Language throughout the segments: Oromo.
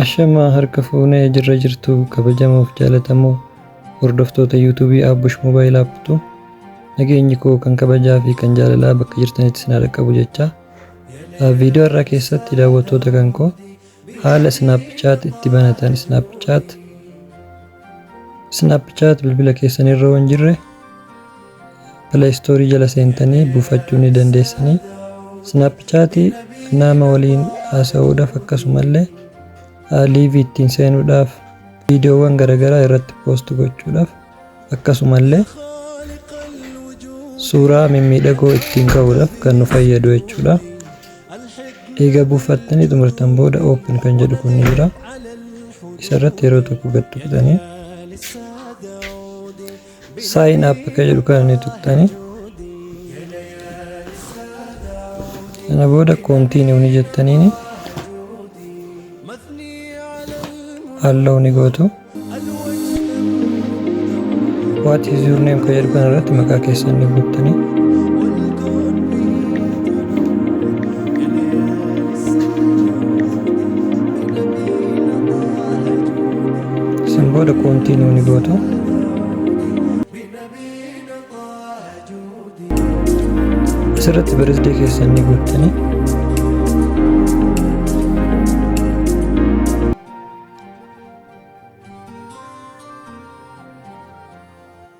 Ashamaa harka fuunee jirra jirtu kabajamoof jaalatamoo hordoftoota yuutuubii Aabbush Moobaayil Aappitu nageenyi koo kan kabajaa fi kan jaalalaa bakka jirtanitti isin haa dhaqqabu jechaa viidiyoo har'aa keessatti daawwattoota kan koo haala Snapchat itti banatan Snapchat Snapchat bilbila keessan irra waan jirre play store jala seentanii buufachuu ni dandeessanii snapchat nama waliin haasa'uudhaaf akkasumallee live ittiin seenuudhaaf viidiyoowwan garaagaraa irratti post gochuudhaaf akkasumallee suuraa mimmiidhagoo ittiin ka'uudhaaf kan nu fayyadu jechuudha. Egaa buufattanii xumurtan booda open kan jedhu kun ni jira. Isarratti yeroo tokko gad tuqxanii Sign up akka jedhu kana ni tuqxani. Kana booda continue ni jettaniini. Allow ni gootu. What is your name kan jedhu kana irratti maqaa keessan ni guuttani. Isin booda continue ni gootu. Asirratti birthday keessan ni guuttanii.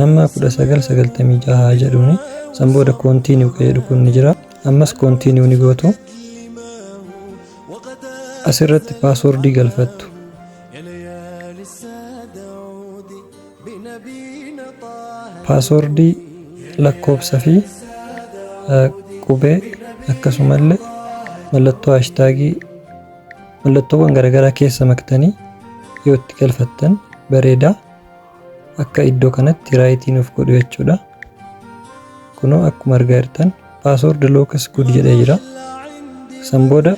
Nama 1996 haa jedhuuni. San booda continue ka jedhu kun ni jira. Ammas continue ni gootu. Asirratti paaswordii galfattu. Paaswordii lakkoofsa fi eh, qubee akkasumallee mallattoo haashtaagii Mallattoowwan garagaraa keessa maktanii yoo itti galfattan bareeda. Akka iddoo kanatti raayitii nuuf godhu jechuudha. Kunoo akkuma argaa jirtan password looks good jedhee jira. San booda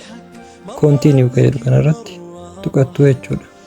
continue ka jedhu kanarratti tuqattu jechuudha.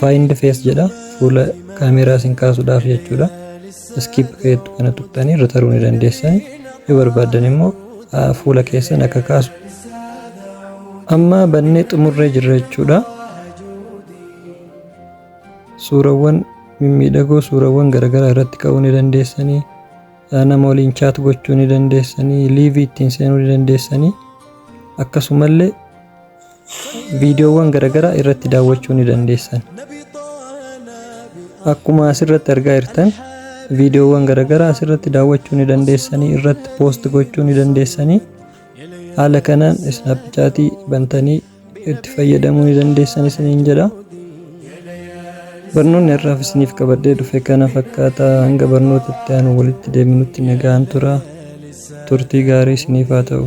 Find face jedha fuula kaameeraa isin kaasuudhaaf jechuudha. Skip keettu kana tuqxanii irra taruu ni dandeessani. Yoo barbaaddan immoo ah, fuula keessan akka kaasu. Amma bannee xumurree jirra jechuudha. Suurawwan mimmiidhagoo suurawwan garaagaraa irratti ka'uu ni dandeessanii. Ah, Nama waliin chaat gochuu ni dandeessanii. Liivii ittiin seenuu ni dandeessanii. Akkasumallee viidiyoowwan garagaraa irratti daawwachuu ni dandeessan. Akkuma asirratti argaa jirtan viidiyoowwan garagaraa asirratti daawwachuu ni dandeessanii irratti poost gochuu ni dandeessanii haala kanaan isnaappichaatii bantanii itti fayyadamuu ni dandeessan isiniin jedha. Barnoonni har'aaf isiniif qabadhee dhufe kana fakkaata hanga barnoota itti aanu walitti deebinutti nagaan tura turtii gaarii isiniif haa ta'u.